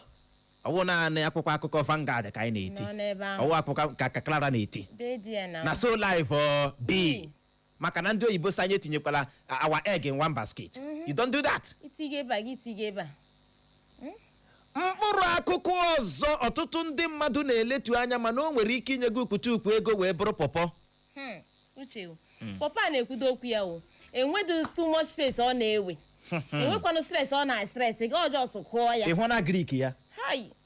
ọ wụ naanị akwụkwọ akụkọ Vanguard ka anyị na-eti nọ n'ebe ahụ ọ wụ akwụkwọ ka ka Clara na-eti dee di ya na na so live ọ bi maka na ndị oyibo sị anyị etinyekwala uh, our egg in one basket mhm. you don't do that itinye ebe a gị itinye ebe a hmm? mkpụrụ akụkụ ọzọ ọtụtụ ndị mmadụ na-eletu anya mana o nwere ike inye gị ukwutukwu ego wee bụrụ pọpọ hmm, uche hmm. pọpọ a na-ekwudo okwu ya o nweghị too much space ọ na-ewe enwekwanụ stress ọ na-stress gị ọjọọ so kụọ ya ịhụ na agric ya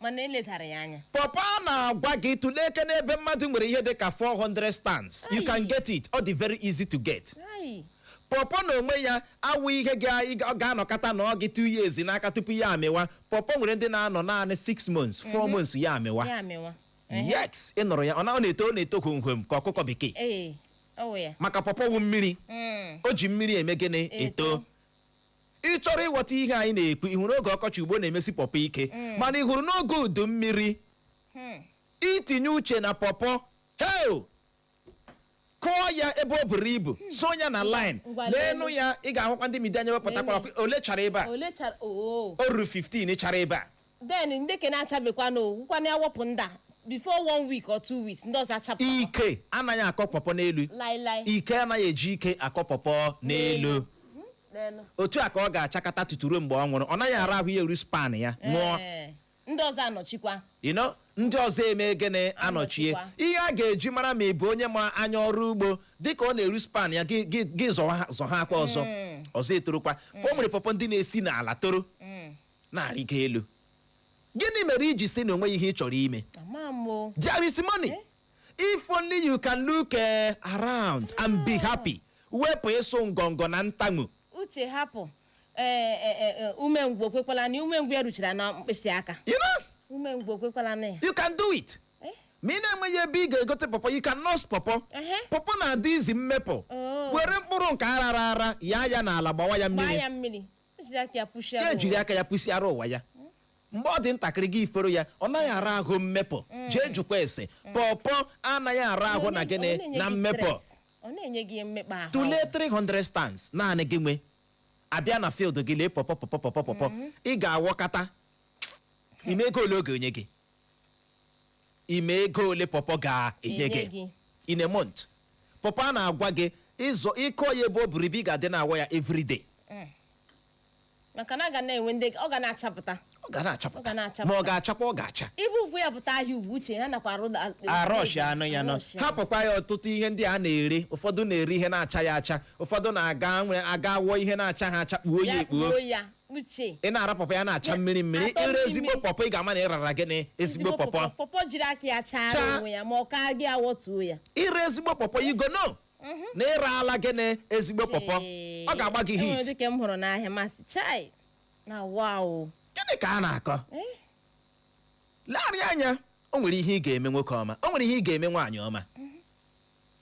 mana e ledara ya anya pọpọ a na-agwa gị tụleekene ebe mmadụ nwere ihe dị ka 400 stands you can Ayi. get it ọ dị very easy to get Ai, pọpọ na onwe ya awụ ihe ga- ị ga- ọ ga-anọkata nọọ gị two years n'aka tupu ya amịwa pọpọ nwere ndị na-anọ naanị six months four months ya amịwa ya amịwa yes ị nụrụ ya ọ na- ọ na-eto ọ na-eto kwomkwom ka ọkụkọ bekee ee ọ wụ ya maka pọpọ wụ mmiri Mm. o ji mmiri eme gịnị eto Eto. ị chọrọ ịghọta ihe anyị na-ekwu ị hụrụ oge ọkọchị ugbu a na-emesi pọpọ ike mana ị hụrụ n'oge udu mmiri i tinye uche na pọpọ heo kụọ ya ebe o buru ibu so ya na line ngwa leenụ leenụ ya ị ga-ahụkwa ndị midia anya wepụtakwara ole chara ebe a ole chara oo o ruru 15 chara ebe a then ndị ke na-achabekwana awọkwana ya wepụ ndị a before one week or two weeks ndị ọzọ achapụ ike anaghị akọ pọpọ n'elu laịlaị ike anaghị eji ike akọ pọpọ n'elu n'elu otu a ka ọ ga-achakata tutu ruo mgbe ọ nwụrụ ọ naghị ara ahụ ya eru span ya nwụọ Ee, ndị ọzọ anọchikwa you know ndị ọzọ eme gịnị anọchie Anọchikwa. ihe a ga-eji mara ma ị bụ onye ma anya ọrụ ugbo dịka ọ na-eru span ya gị gị- gị zọwa ha- zọhakwa ọzọ ọzọ etorokwa o nwere pọpọ ndị na-esi n'ala toro na-arịgo elu gịnị mere i ji sị na o nweghị ihe ị chọrọ ime ama m o there is money if only you can look eh, around and be happy wepụ ịsụ ngọngọ na ntamu uche hapụ ee e, e, e, umengwụ ekwekwala na umengwụ ya ruchara na mkpịsị aka you know umengwụ ekwekwala na ya you can do it Eh? ma ị na-enweghị ebe ị ga-egote pọpọ you can nurse pọpọ Ehe. pọpọ na-adị easy mmepụ Oh. were mkpụrụ nke a rara ara yaa ya n'ala gbawa ya gbaa mmiri ya mmiri O jiri aka ya pushie ya jiri aka ya pụsiara onwe ya mgbe ọ dị ntakịrị gị eforo ya ọ naghị ara ahụ mmepụ jee jụkwa ese pọpọ anaghị ara ahụ na gịnị na mmepụ ọ na-enye gị mmekpa ahụ tụlee 300 stands naanị gị nwe a bịa na field gị lee pọpọ pọpọ pọpọ pọpọ ị ga-awọkata ị ma ego ole ọ ga-enye gị ị ma ego ole pọpọ ga-enye Enye gị gị. in a month pọpọ a na-agwa gị ịzọ ị kọọ ya ebe o buru ibu ị ga-adị na-awọ ya everyday maka na a ga na-enwe ndị ọ ga na-achapụta ọ ga Ọ ga na-achapụta na-achapụta. ma ọ ga-achakwa ọ ga-acha ibu ugwu ya pụta ahịa ugwu uche ha nakwa arụ arush anụ ya nọ Arush ya. hapụkwa ya ọtụtụ ihe ndị a na-ere ụfọdụ na-ere ihe na-achaghị acha ụfọdụ na-aga nwe aga wọọ ihe na-achaha acha kpuo ya Ya ekpuo kpuo ya uche ị na-ara pọpọ ya na-acha mmiri mmiri atọ ire mmiri ezigbo mmiri. pọpọ ị ga-ama na ị rara gịnị ezigbo pọpọ pọpọ jiri aka ya chara Chaa. onwe ya ma ọ ka gị awọtuo ya i rie ezigbo pọpọ you go know na ị raala gịnị ezigbo pọpọ Chee. ọ ga-agba gị E nwere hit dịka m hụrụ n'ahịa m asị chai na wow gịnị ka a na-akọ Eh? lee anya o nwere ihe ị ga-eme nwoke ọma o nwere ihe ị ga-eme nwaanyị ọma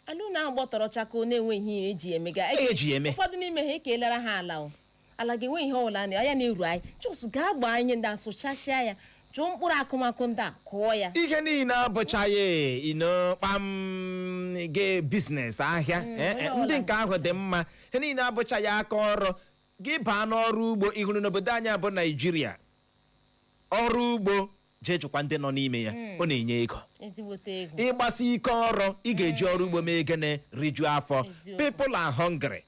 ala unu ahụ gbọtọrọ chakoo na-enweghị ihe eji emega Ihe eji ya eme. ụfọdụ n'ime ha ekelara ha ala o ala ga-enwe ihe ọbụla na anya na-eru anyị just gaa gbaa ihe ndị a sụchasịa ya chụọ mkpụrụ akụmakụ ndị a kụọ ya ihe niile abụchaghị ino kpam gị biznes ahịa Eh, eh, onye ọbụla ndị nke ahụ dị mma ha niile abụchaghị aka ọrụ gị baa n'ọrụ ugbo ị hụrụ n'obodo anyị bụ naijiria ọrụ ugbo jee jụkwa ndị nọ n'ime ya ọ na-enye ego ezigbote ego ị gbasie ike ọrụ ị ga-eji ọrụ ugbo mee gịnị rijuo afọ Eziokwu. people are hungry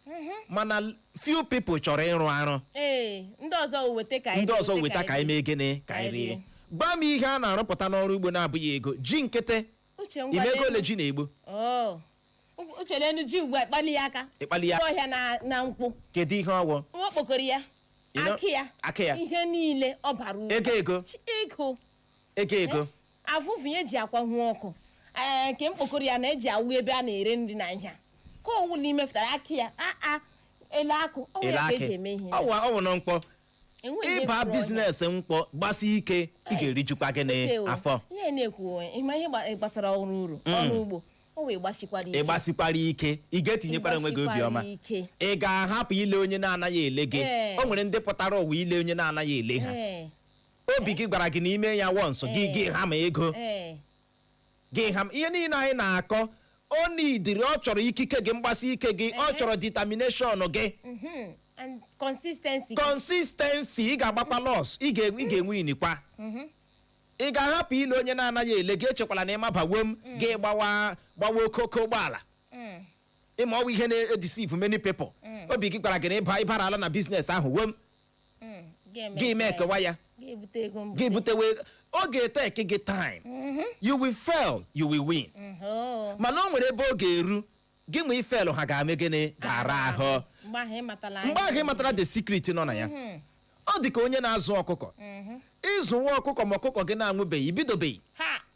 mana few people chọrọ ịrụ arụ ee ndị ọzọ weta ka anyị ndị ọzọ weta ka anyị mee gịnị ka anyị rie gwa m ihe a na-arụpụta n'ọrụ ugbo na-abụghị ego ji nkịtị uche ngwa ị ma ego n'elu. ole ji na-egbu Oh, Uche leenụ ji ugbu a kpali ya aka. Ịkpali ya. Ọhịa na na nkwụ. kedu ihe ọwụ Nwa okpokoro ya. You know, Akị ya. akị ya. Ihe niile ọ bara uru. Ego ego. Chi- Ego. ego ego Avụvụ ya eji akwahụ ọkụ. Ee, nke mkpokoro ya na-eji awụ ebe a na-ere nri na nha. Ka ọwụ na i mefụtara akị ya. Aa, elu akị. Ọ bụ elu ya ka akị eji eme ihe. ọwụ ọwụ nụ nkwụ Enweghị ihe ị baa kwụrụ onye. biznes nkwụ gbasi ike ị ga-erijukwa gịnị Uche o, afọ ihe na-ekwu onwe ị ma ihe gba- gbasara ọrụ uru ọrụ ugbo o wee gbasikwara ike ị gbasikwara ike ị ga-etinyekwara onwe gị Ịgbasikwara obiọma ike. ị ga-ahapụ ile onye na-anaghị ele gị Ee. o nwere ndị pụtara ụwa ile onye na-anaghị ele ha Ee, obi gị gwara gị na i mee ya once gị Ee. gị hammer ego ee, gị hammer ihe niile anyị na-akọ o nidiri ọ chọrọ ikike gị mgbasi ike gị ọ Ehe. chọrọ determination gị Mhm. and consistency consistency ị ga-agbakwa loss ị ga- ị ga-ewinikwa ị ga-ahapụ ile onye na-anaghị ele gị echekwala na ị maba wom gị gbawa gbawa okooko ụgbọala Mm. ị ma ọwụ ihe na-edeceive many people obi gị gwara gị na ịba ị baraala na biznes ahụ wom Mm, ga-eme gị mee ka- ekewa ya ga-ebute ego gị mbute butewe ọ ga-eteki gị time you will fail you will win nhoo mana o nwere ebe ọ ga-eru gị ma ịfail ha ga-ame gịnị ga-ara ahụ mgbe ahụ ị matala mgbe ahụ ị matara the secret nọ na ya ọ dị ka onye na-azụ ọkụkọ ị zụwa ọkụkọ ma ọkụkọ gị na-anwụbeghị i bidobeghị ha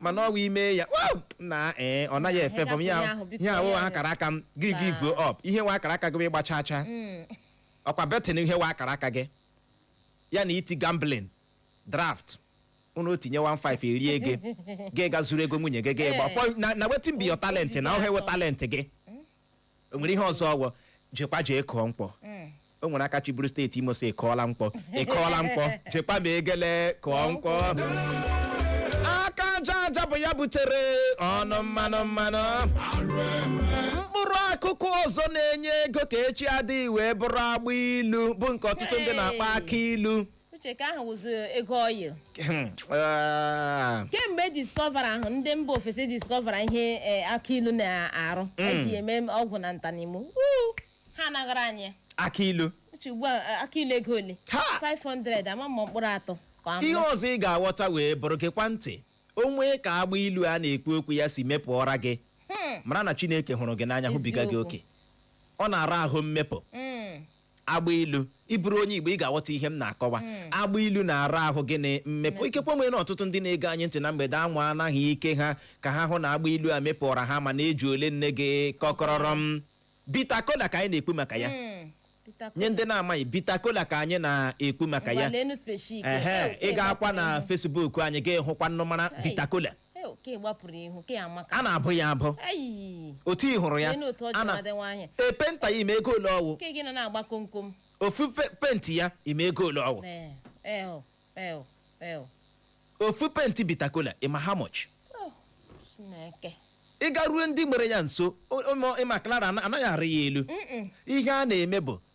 mana ọ wụ i mee ya "Wow! na ee ọ naghị efavour m ihe Ihe ahụ, biko, ihe awụghị akara aka m gị givuo up ihe wụ akara aka gị bụ ịgba chaa chaa ọkwa betting ihe wụ akara aka gị ya na iti gambling draft unu tinye 15 erie gị gị gaa zuru ego nwunye gị gị gba Ee. Pọ- na- na wetin be your talent na ọ ihe wụ talent gị o nwere ihe ọzọ ọ wụ jekwa jee kụọ nkwụ o nwere aka chịburu steeti imo sị kụọla nkwụ ị kụọla nkwụ jekwa ma egele kụọ nkwụ aka aja aja bụ ya butere ọnụ mmanụ mmanụ mkpụrụ akụkụ ọzọ na-enye ego ka echi adịghị wee bụrụ agba ilu bụ nke ọtụtụ ndị na-akpọ akụ ilu uche ke ahụ wụzi ego oil Ah, kemgbe discovera ahụ ndị mba ofesi discovera ihe eh, akụ ilu na-arụ e ji ya eme ọgwụ na ntanimo Wuu! ha anaghara anyị akụ ilu uche ugbu a eh, akụ ilu ego ole Ha! 500 ama m mkpụrụ atọ ka ọ wụ ihe ọzọ ị ga-aghọta wee bụrụ gekwa ntị o nwee ka agba ilu a na-ekwu okwu ya si mepụọra gị mara na chineke hụrụ gị n'anya hụbiga gị Eziokwu. oke ọ na-ara ahụ mmepụ Mm. agba ilu ị bụrụ onye igbo ị ga-aghọta ihe m na-akọwa agba ilu na-ara ahụ gịnị mmepụ ikekwe e nwere ọtụtụ ndị na-ege anyị ntị na mgbede a anwaana ike ha ka ha hụ na agba ilu a mepụọra ha ma na-eji ole nne gị kọkọrọrọ m bita kola ka anyị na-ekwu maka ya Mm. Peter nye ndị na-amaghị bita kola ka anyị na-ekwu maka ya Ngwalenu special ike. ehe Eh, ị gakwa na Facebook anyị ị ga-ahụkwa nnụmara Hey. bita kola Ee, oke gbapụrụ ihu ke amaka a na-abụ ya abụ ayi otu ị hụrụ ya Lee n'otu ọ ji a na- nwadị nwaanyị. e penta ya ị ma ego ole ọ wụ ke gị nọ na-agba komkom ofu pe- penti ya ị ma ego ole ọ wụ Ee, ee, o, ee, o, ee, o. ofu penti bita kola ị ma how much Oh, Chineke ị garuo ndị nwere ya nso o- o- ị ma Clara ana- anaghị arị ya elu ihe a na-eme bụ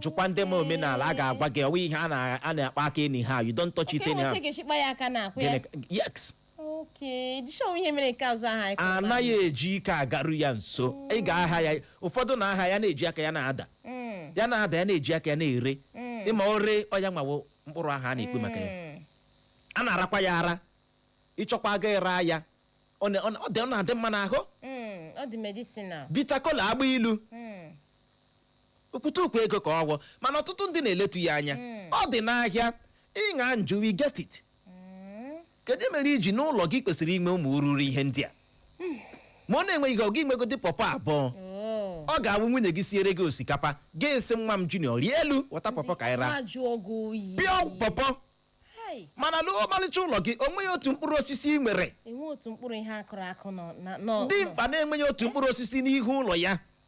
jụkwa ndị ma omenala ha ga-agwa gị ọ wụghị ihe a na- a na-akpa aka anyhow you don't touch it Oke, anyhow nweta ga-echikpa ya aka n'akwụ ya. Gịnị ka- yes Oke, dịchọọ ihe mere nke azụ ahụ anyị kọrọ. anaghị eji ike agaru ya nso ị ga-aha ya ụfọdụ na-aha ya na-eji aka ya na-ada Mm, ya na-ada ya na-eji aka ya na-ere mm, ị ma o ree ọya nwawo mkpụrụ ahụ a na-ekwu maka ya mm. a na-arakwa ya ara ị chọkwa ị ga ịra ya ọ na- ọ na- ọ dị- ọ na-adị mma n'ahụ Mm, ọ dị medicinal. bita kola agba ilu Mm, ukwutukwu ego ka ọ wụ mana ọtụtụ ndị na-eletu ya anya ọ dị n'ahịa ịṅa njụ we get it kedu ihe mere iji n'ụlọ gị i kwesịrị inwe ụmụ ururu ihe ndị a ma ọ na-enweghị ihe ọ gị nwegodi pọpọ abụọ Oh. ọ ga-awụ nwunye gị siere gị osikapa gị asị nwa m junior rịa elu wọta pọpọ ka anyị raa Ahụ ajụọ gị oyi. pịọ pọpọ Hai, mana ị lụọ ọmarịcha ụlọ gị o nweghị otu mkpụrụ osisi ị nwere enwe otu mkpụrụ ihe a kụrụ akụ nọ na nọ. dimkpa na-enweghị otu mkpụrụ osisi n'ihu ụlọ ya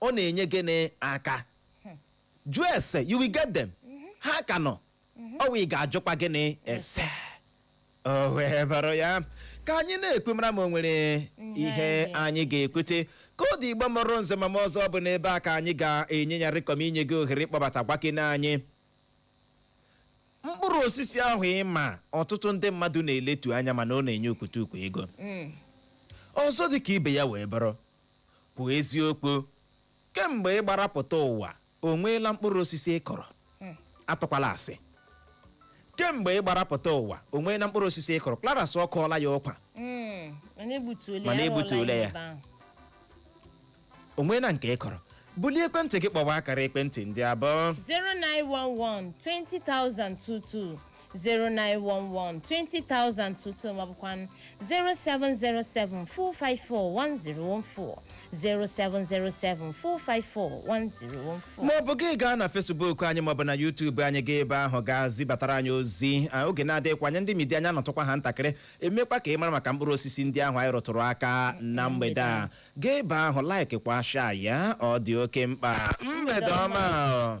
ọ na-enye gịnị aka jụọ ese you will get them ha ka nọ ụwa ị ga-ajụkwa gịnị ese o wee bụrụ ya ka anyị na-ekwu mara ma o nwere ihe anyị- anyị ga-ekwute ka ọ dị igbo mụrụ nze mụọ ọzọ bụ n'ebe a ka anyị ga-enye ya rịkọm inye gị ohere ịkpọbata gwakene anyị mkpụrụ osisi ahụ ị ma ọtụtụ ndị mmadụ na-eletu anya mana ọ na-enye ukwutukwu ego ọzọ dị ka ibe ya wee bụrụ Kwuo eziokwu, kemgbe ị gbara pụta ụwa, o nweela mkpụrụ osisi ị kụrụ? Atụkwala asị. Kemgbe ị gbara pụta ụwa, o nweela mkpụrụ osisi ị kụrụ? Clara sị ọ kụọla ya ụkwa. Mm, mana egbutuola Mana ya, arụọla egbutuola ya. ebe ahụ. O nweela nke ị kụrụ? Bulie ekwentị gị kpọwa akara ekwentị ndị a bụ. 0911 20,022 0911 20000 22 maọbụkwa 0707 454 1014 0707 454 1014 maọbụ gị gaa na Facebook anyị maọbụ na YouTube anyị gaa ebe ahụ gaa zibatara anyị ozi Ah, oge na-adịghịkwa anya ndị media anyị anọtụkwa ha ntakịrị emekwa ka ị mara maka mkpụrụ osisi ndị ahụ anyị rụtụrụ aka na mgbede a gaa ebe ahụ like kwa share ya ọ dị oke mkpa mgbede ọma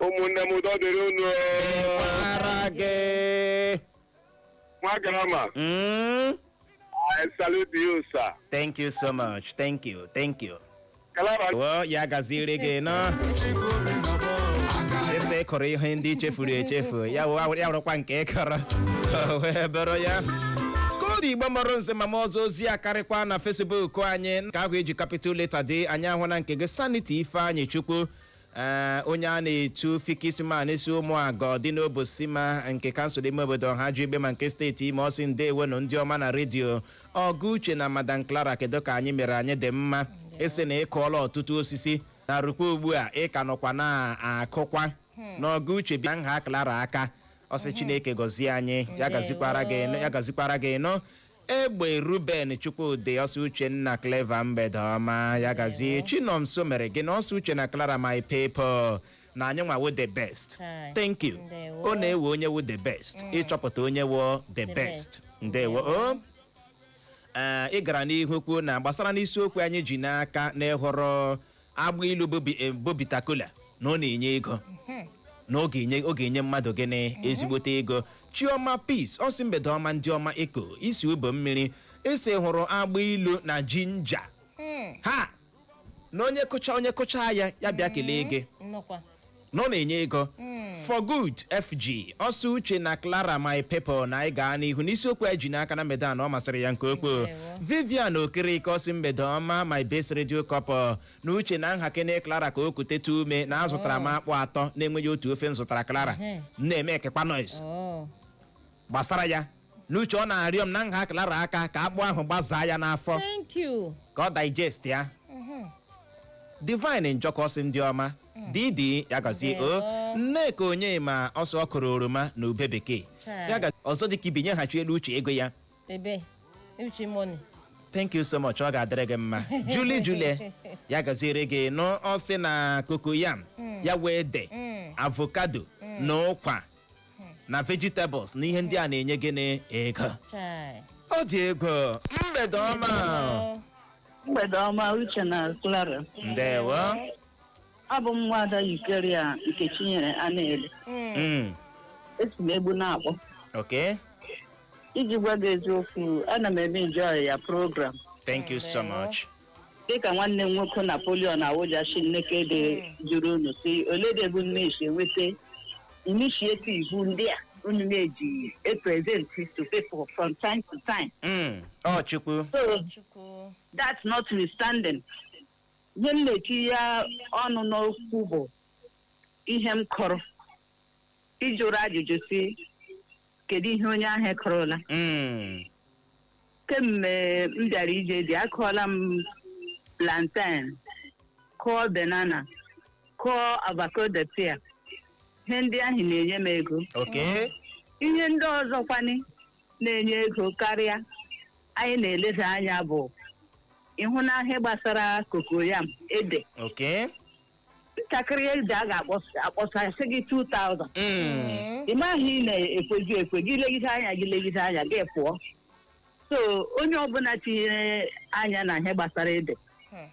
ụmụnne m udo dịrị unu Ara gị. nwa grammar Mm, I salute you sir Thank you so much. Thank you. Thank you. kalaba Well, ya gaziere gị nọ. Ị sị ị kọrọ ihe ndị chefuru echefu. Ya wụ- ya wụrụkwa nke ị kọrọ. O wee bụrụ ya. Ka ọ dị Igbo mụrụ nze ma mụọ ọzọ ozi akarịkwa na Facebook anyị. Nke ahụ e ji capital letter dee anyị ahụna nke gị Sanity Ifeanyịchukwu. Ee, onye a na-etu Fixman si Ụmụagụ dị n'obosima nke kansụl ime obodo Ọhaji Egbema nke steeti Imo ọ sị ndewonụ ndị ọma na redio ọga uche na madam clara kedu ka anyị mere anyị dị mma ị sị na ị kụọla ọtụtụ osisi na rukwa ugbu a ị ka nọkwa na-akụkwa na ọga uche bịa nha clara aka ọ sị chineke gọzie anyị ya gazikwara gị nụ ya gazikwara gị nụ egbe ruben chukwudị ọ sị uche na clara mgbede ọma ya gazie chinomso meregịnị ọ sị uche na clara my people na anyị nwa wu the best Hi. thank you Ndewo. ọ na-ewe onye wu the best ịchọpụta onye wu the best best. ndewo o Ee, ị gara n'ihu kwuo na gbasara n'isiokwu anyị ji n'aka na ị họrọ agba ilu bụ bi- eh, bụ bitter kola na ọ na-enye ego na ọ ga-enye ọ ga-enye mmadụ gịnị ezigbote ego chioma peace ọ sị mgbede ọma ndị ọma eko isi Ubomiri ị sị ị họrọ agba ilu na ginger ha na onye kụcha onye kụcha ya ya bịa kelee gị nnọkwa na ọ na-enye ego for good fg ọ sị uche na clara my people na anyị gaa n'ihu n'isiokwu anyị ji n'aka na mgbede a na ọ masịrị ya nke ukwuu Ndewo. vivian okereke ọ sị mgbede ọma my best radio couple na uche na nhakene clara ka o kuteta ume na azụtara m akpụ atọ na-enweghị otu ofe m zụtara clara Ehe. m na-emekekwa noise Oh. gbasara ya n'uche ọ na-arịọ m na nha clara aka ka akpụ ahụ gbazaa ya n'afọ thank you ka ọ digest ya divine njoku sị ndị ọma didi ya gazie o Ndewo. nneka onyema ọ sị ọ kụrụ oroma na ube bekee Chai. ya gazie ọzọ dịka ibi nyeghachi elu uche ego ya ebe uchi money thank you so much ọ ga-adịrị gị mma julie julie ya gaziere gị nnọọ ọ sị na cocoyam ya wụ ede avocado na ụkwa na vegetables na ihe ndị a na-enye gị na ego Chai. ọ dị ego mgbede ọma mgbede ọma uche na clara ndewo abụ m nwada eucharia nkechinyere anaele Mm. Mm, esi m egbu na-akpọ okay iji gwa gị eziokwu ana m eme enjoy your program thank you so much dịka nwanne m nwoke napoleon awụja shi nekede jụrụ unu sị ole de ebe unu na-esi enweta initiative ndị a unu na-eji epresent to people from time to time Mm, ọ chukwu so chukwu that's notwithstanding ihe m na-etinye ọnụ n'okwu bụ ihe m kọrọ ị jụrụ ajụjụ sị kedu ihe onye ahụ kụrụla Mm. kemgbe m bịara ije di akụọla m plantain kụọ banana kụọ avocado pear ihe ndị ahụ na-enye m ego ok ihe ndị ọzọkwani na-enye ego karịa anyị na-eleda anya bụ ịhụ na ihe gbasara cocoyam ede ok ntakịrị ede a ga-akpọsa sị gị 2000 Mm. ị maghị ị na-ekwezi ekwe gị legide anya gị legide anya gị pụọ so onye ọbụla tinyere anya na ihe gbasara ede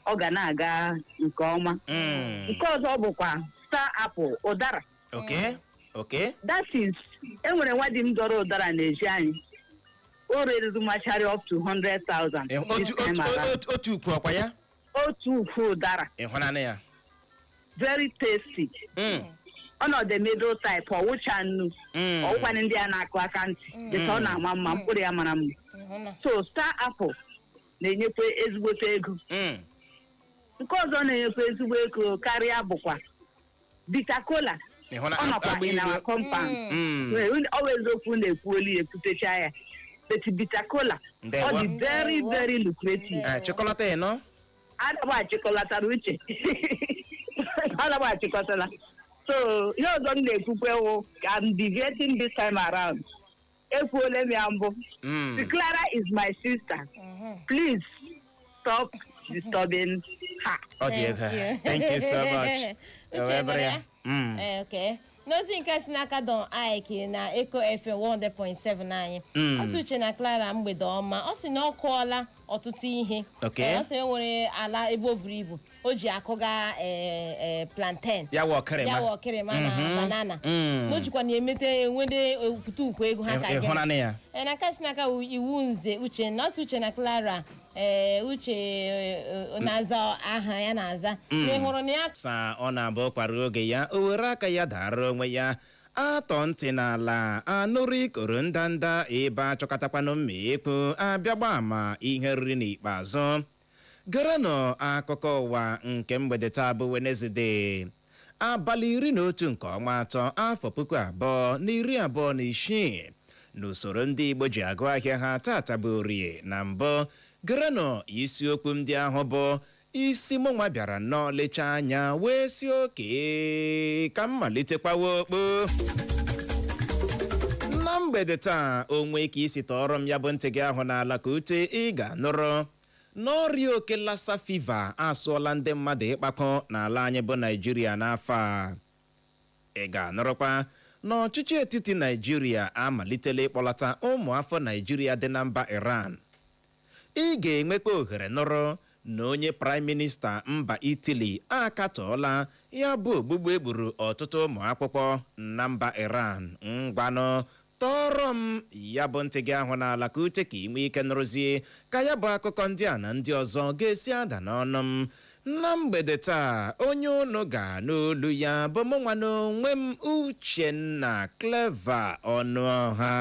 ọ ga na-aga nke ọma Mm. nke ọzọ bụkwa star apple ụdara Okay. Okay. that is enwere nwa di m dọrọ ụdara n'ezi anyị o reruru machari up to 100,000 Eh, Otu otu otu otu ukwu ọkwa ya. otu ukwu ụdara ịhụnanị ya very tasty Mm, ọ nọ the middle type ọ wụcha nnu mm. ọ wụkwanị ndị a na-akụ aka ntị dịka ọ na-ama mma mkpụrụ ya mara mma Ịhụna. so star apple na-enyekwa ezigbote ego Mm, nke ọzọ na-enyekwa ezigbo ego karịa bụkwa bitter kola Ị hụla ọ nọkwa agba in ilu? our compound Mm. Well, unu- ọ wụ eziokwu unu ekwuola ya ekwutecha ya but bitter kola Ndewo. ọ dị very very lucrative Eh, chịkọlata ya nọ adaba achịkọlatara uche adaba achịkọtala so ihe ọzọ m na-ekwukwe wụ ka I'm deviating this time around ekwuole m ya mbụ Mm. The Clara is my sister please stop disturbing her ọ dị ego Thank you. thank you so much Uche Wee bụrụ mere ya. ya? Mm. Eh, okay. n'ozi nke si n'aka don ike na eko fm 100.7 anyị Mm. ọ sị uche na clara mgbede ọma ọ sị na ọ kụọla ọtụtụ ihe Okay. Eh, ọ sị e nwere ala ebe o buru ibu o ji akụga eh, eh, plantain ya wụ ọkịrịma ya wụ ọkịrịma na Mhm. banana Mm. na o jikwa na emete nwede okwute ukwu ego ha ka Ị- gịnị? ịhụnanị ya Eh, na nke si n'aka wu- Iwunze uche na ọ sị uche na clara eh, uche eh, eh, na-aza aha ya na-aza na ị hụrụ na ya sa ọ na-abụ ụkwa ruo oge ya o were aka ya dara onwe ya a tọọ ntị n'ala a nụrụ ikoro ndanda ebe a chọkatakwanụ mma ekwu a bịa gbaa ama ihe e riri n'ikpeazụ Gerenụ akụkọ ụwa nke mgbede taa bụ Wenezde abalị iri na otu nke ọnwa atọ afọ puku abụọ na iri abụọ na isii n'usoro ndị Igbo ji agụ ahịa ha tata bụ orie na mbụ gerenụ isiokwu ndị ahụ bụ isi mụnwa bịara nnọọ lecha anya wee sị okay ka m malite kwawa okpu na mgbede taa o nwee ka i si tọọrọ m ya bụ ntị gị ahụ n'ala ka ute ị ga nụrụ na ọrịa oke lassa fiva asụọla ndị mmadụ ịkpakọ n'ala anyị bụ naijiria n'afọ a ị ga-anụrụkwa na ọchịchị etiti naijiria amalitela ịkpọlata ụmụ afọ naijiria dị na mba iran ị ga-enwekwa ohere nụrụ na onye praịm minista mba itili akatọọla ya bụ ogbugbu e gburu ọtụtụ ụmụ akwụkwọ na mba iran ngwanụ Tọọrọ m ya bụ ntị gị ahụ n'ala ka ute ka i nwee ike nụrụzie ka ya bụ akụkọ ndị a na ndị ọzọ ga-esi ada n'ọnụ m na mgbede taa onye unu ga-anụ olu ya bụ mụ nwa n'onwe m Uchenna Clever Ọnụọha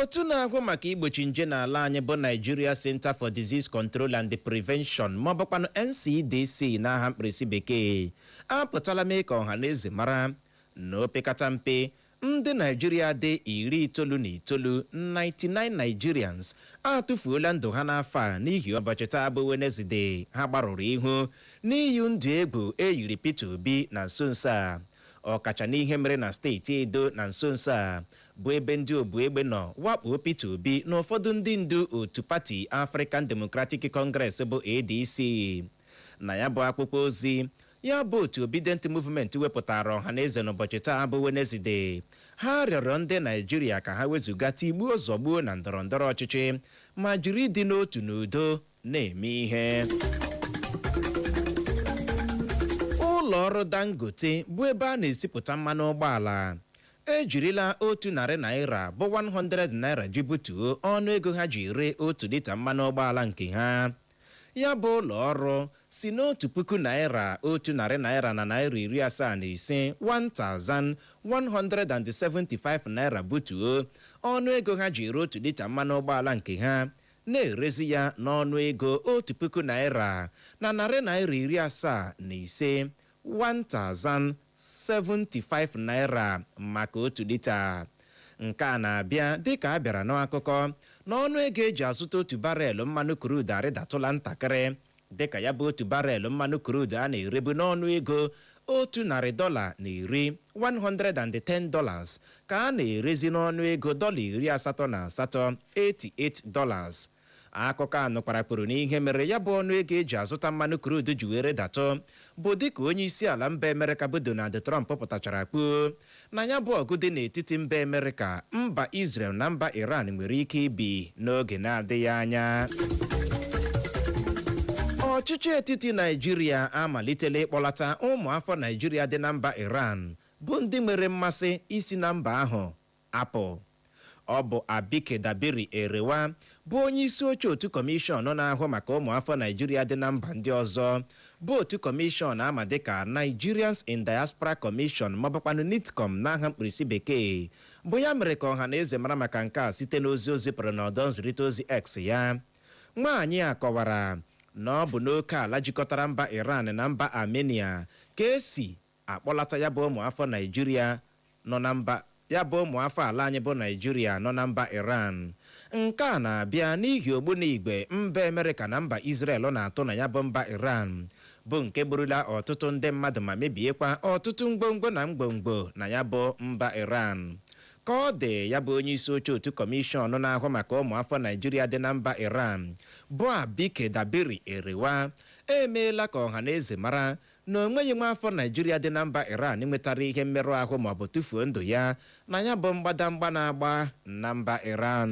otu na-ahụ maka igbochi nje n'ala anyị bụ Nigeria Center for Disease Control and Prevention ma ọ bụkwanụ NCDC n'aha mkpirisi bekee apụtala mee ka ọha na eze mara na opekata mpe ndị naijiria dị iri itoolu na itoolu 99 nigerians atụfuola ndụ ha n'afọ a n'ihi ụbọchị taa bụ wenezdee ha gbarụrụ ihu n'iyi ndụ egwu e yiri peter obi na nso nso a ọkacha n'ihe mere na steeti edo na nso nso a bụ ebe ndị obu egbe nọ wakpoo peter obi na ụfọdụ ndị ndu otu pati african democratic congress bụ adc na ya bụ akwụkwọ ozi ya bụ otu Obidient Movement wepụtara ọha na eze n'ụbọchị taa bụ Wenezdee ha rịọrọ ndị Naijiria ka ha wezụga tigbuo zọgbuo na ndọrọ ndọrọ ọchịchị ma jiri ịdị n'otu n'udo na-eme ihe ụlọ ọrụ Dangote bụ ebe a na-esipụta mmanụ ụgbọala ejirila otu narị naira bụ 100 naira ji butuo ọnụ ego ha ji ere otu lita mmanụ ụgbọala nke ha Ya bụ ụlọọrụ si n'otu puku naịra, otu narị naịra na naịra iri asaa na ise, 1,175 naịra butuo ọnụ ego ha ji ere otu lita mmanụ ụgbọala nke ha, na-erezi ya n'ọnụ ego otu puku naịra na narị naịra iri asaa na ise, 1,075 naira maka otu lita. Nke a na-abịa dịka a bịara n'akụkọ na ọnụ ego e ji azụta otu barel mmanụ kruud arịdatụla ntakịrị dịka ya bụ otu barel mmanụ kruud a na-erebu n'ọnụ ego otu narị dọla na iri 110 dollars ka a na-erezi n'ọnụ ego dọla iri asatọ na asatọ 88 dollars Akụkọ a nụkwara kwuru na ihe mere ya bụ ọnụego e ji azụta mmanụ krudu ji wee rịdatụ bụ dịka onye isi ala mba Amerịka bụ Donald Trump pụtachara kwuo na ya bụ ọgụ dị n'etiti mba Amerịka, mba Israel na mba Iran nwere ike ibi n'oge na-adịghị anya. Ọchịchị etiti Naịjirịa amalitela ịkpọlata ụmụafọ Naịjirịa dị na mba Iran bụ ndị nwere mmasị isi na mba ahụ apụ. Ọ bụ Abike Dabiri-Erewa bụ onyeisi oche otu kọmishọn na-ahụ maka ụmụafọ Naịjirịa dị na mba ndị ọzọ bụ otu kọmishọn a ma dịka Nigerians in Diaspora Commission maọbụkwanụ NIDCOM n'aha mkpirisi bekee bụ ya mere ka ọha na eze mara maka nke a site n'ozi o zipụrụ n'ọdọ nzirịta ozi X ya. Nwaanyị a kọwara na ọ bụ n'oke ala jikọtara mba Iran na mba Armenia ka e si akpọlata ya bụ ụmụafọ Naịjirịa nọ na mba ya bụ ụmụafọ ala anyị bụ Naịjirịa nọ na mba Iran. Nke a na-abịa n'ihi ogbunigwe mba Amerịka na mba Izrel na-atụ na ya bụ mba Iran bụ nke gburula ọtụtụ ndị mmadụ ma mebiekwa ọtụtụ ngwongwo na ngwongwo na ya bụ mba Iran. Ka ọ dị ya bụ onye isi oche otu kọmishọn na-ahụ maka ụmụafọ Naịjirịa dị na mba Iran bụ Abike Dabiri Erewa emeela ka ọha na eze mara na o nweghị nwaafọ Naịjirịa dị na mba Iran nwetara ihe mmerụ ahụ maọbụ tụfuo ndụ ya na ya bụ mgbadamgba na-agba na mba Iran.